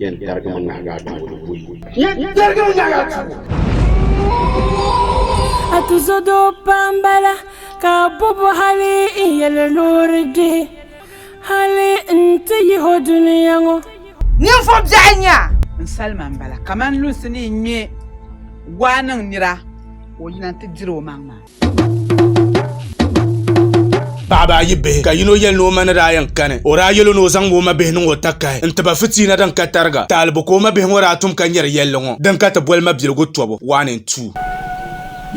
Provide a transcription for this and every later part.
Yɛn tarigimi nahigu a tuubu ni buyi. Yɛn tarigimi nahigu a tuubu. A ti zo doo pam bala ka a bobo hali n yɛli loori di hali n ti yihi o duniya ŋɔ. Ninvuɣ biɛɣu nya. N salima m-bala kaman lunsi ni yi ŋme waa niŋ nira ka o yina nti diri omaŋ maa. paɣaba ayi bihi ka yino yɛli ni o ma ni daa yɛn kani o daa yɛlo ni o zaŋ o ma bihi niŋ o takahi n tiba fitiina din ka tariga taalibu ka o ma bihi ŋɔ daa tum ka nyɛri yɛlli ŋɔ din ka ti boli mabiligu tɔbu one and two.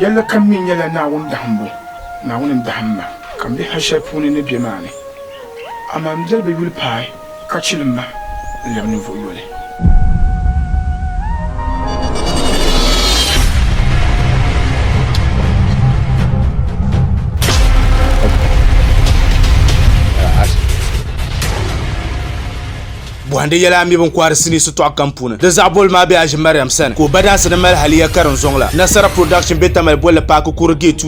Yɛlli kam mi nyɛla Naawuni dahimbu, Naawuni n-dahim ma ka m be hal shɛli puuni ni be maa ni, amaa m biɛri be yuli paai. Ka chilim ma n-lɛbi ninvuɣ yoli. Bɔhindi yɛla a mi bini kɔhiri sinii sitɔɣu kam puuni. Di zaɣ boli maa be Aji Mariam sani ka o badansi ni mali haliya ka din zɔŋ la. Nasara Production be Tamale bolli paaki Kuri Gate.